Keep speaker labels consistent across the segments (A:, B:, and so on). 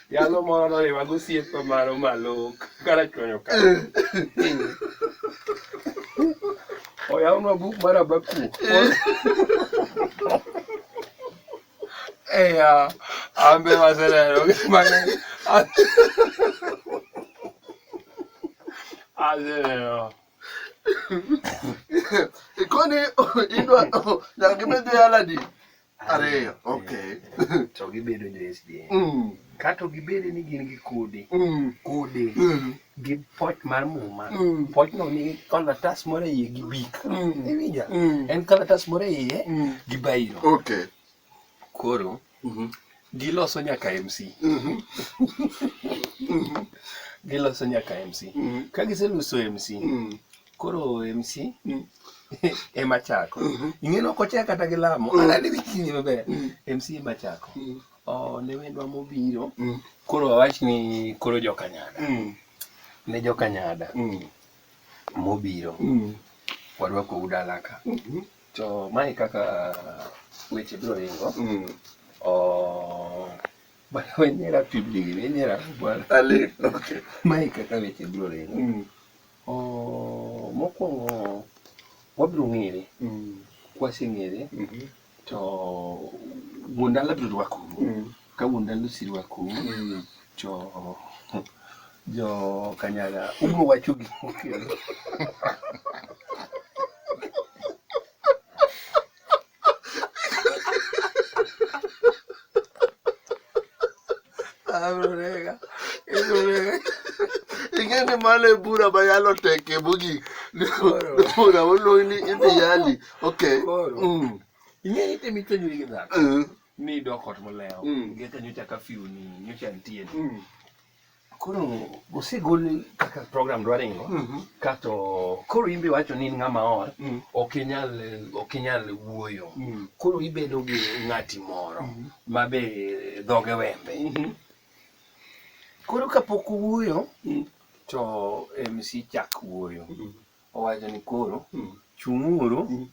A: Yalo moro noriwa gosiepe maro malok kara chwanyo ka. Oyawno buk mar Abaku. Eya, ambe waseneno gik mang'eny. Aseneno. Ikoni idwa nyaka gibed dhi aladi. ariyo okay to gibedo jo SDA mm. kato gibede ni gin gi kode mm. kode mm. gi poch mar muma mm. poch no ni kalatas moro iye gi bik mm. iwinja mm. en kalatas moro iye mm. gi bairo okay koro mm -hmm. giloso nyaka MC mm -hmm. giloso nyaka MC mm -hmm. ka giseloso MC mm -hmm. koro MC mm. ema chako mm-hmm. ing'e no kochea kata gi lamo mm. anani wichini maber MC mm. ema chako oh, ne wendwa mobiro koro awach ni koro jokanyada ne jokanyada mobiro warwako udalaka mm-hmm. to mae kaka weche biro ringo oh, bana wenyera pibligini wenyera bwana ale okay mae kaka weche biro ringo Oh, mokwongo wabiro ng'ere mm. kwaseng'ere mm -hmm. to wuon dala biro rwako mm. ka wuon dala osirwako mm. to jo kanyaga ubiro wacho gik mokelo Abrega. Abrega. Ing'e ni mano e bura ma yalo teke mogik. Bura moluong ni idhi yali. Okay. Mm. Ing'e ni temi tonyri gi dhako. Mm. Ni idok ot molewo. Mm. Ngecha nyocha kafiu ni nyocha nitie ni. Mm. Koro osegol kaka program dwa ringo mm -hmm. kato koro imbe wacho ni ng'ama or mm. ok inyal ok inyal wuoyo mm. koro ibedo gi ng'ati moro mm. ma be dhoge wembe mm -hmm. koro kapok wuoyo mm. to MC chak wuoyo mm. owacho ni koro mm. chung'uru mm.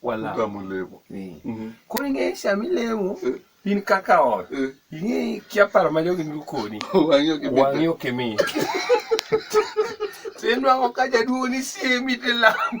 A: walamo lemo. Eh. Mhm. Koro ing'eyo sama ilemo eh. in kaka ot eh. ing'eyo kia paro ma jogi nigo koni wang'i ok imit. Sen nwang'o ka jaduong' ni siemi to ilamo.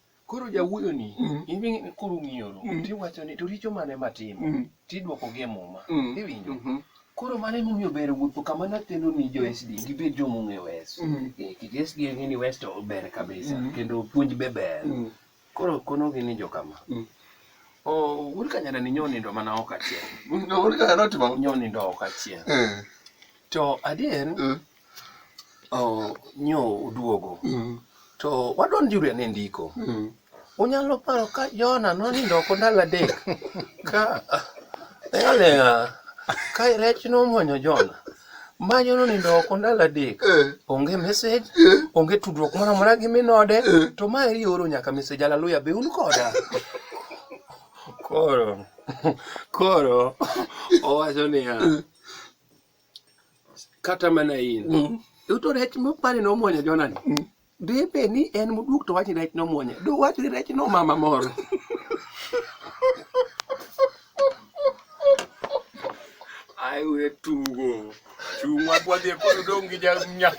A: Koro jawuoyo ni mm. iwinjo koro ng'iyo ro mm. tiwacho ni to richo mane matimo mm. tidwoko gi muma mm. iwinjo mm-hmm. koro mano emomiyo ber wuotho kama natendo ni jo SD gibed jo mong'e wes mm. eh, kik SD ng'e ni wes to ber kabisa mm. kendo puonj be ber mm. koro konogi ni jo kama mm. Oh, uri kanyana ni nyonindo mana ok achiel. Uri kanyana otimo? Nyonindo ok achiel. Eh. To adier, eh. Oh, nyo uduogo mm. to wadonjuru ane ndiko mm. unyalo paro ka jona nonindo oko ndalo adek ka leng'aleng'a ka rech nomonyo jona manyo nonindo oko ndalo adek eh. onge message eh. onge tudruok moro amora gi minode eh. to ma eri oro nyaka message alaluya be un koda koro koro owacho niya kata mana in mm. to rech mopani nomwonyo jonani mm. debe ni en moduok to wachni rech nomwonye do wachni rech nomama moro aiwe tugo chung' wadhi e polo dong' gi janya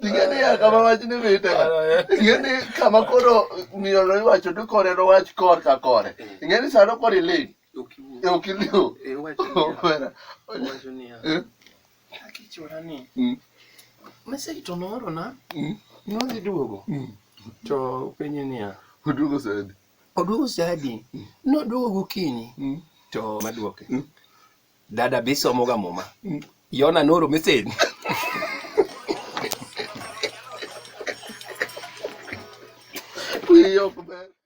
A: ingeni ya kama wachni mite ingeni kama koro miyo no iwacho to kore nowach kor ka kore ingeni sano koro iling' e okiliu e omera owacho niya eh? akichora ni mm. message to noorona mm. nodhi duogo mm. to penye niya oduogo sadi oduogo sadi noduogo gokinyi to maduoke dada be isomoga muma yona nooro message Yok be.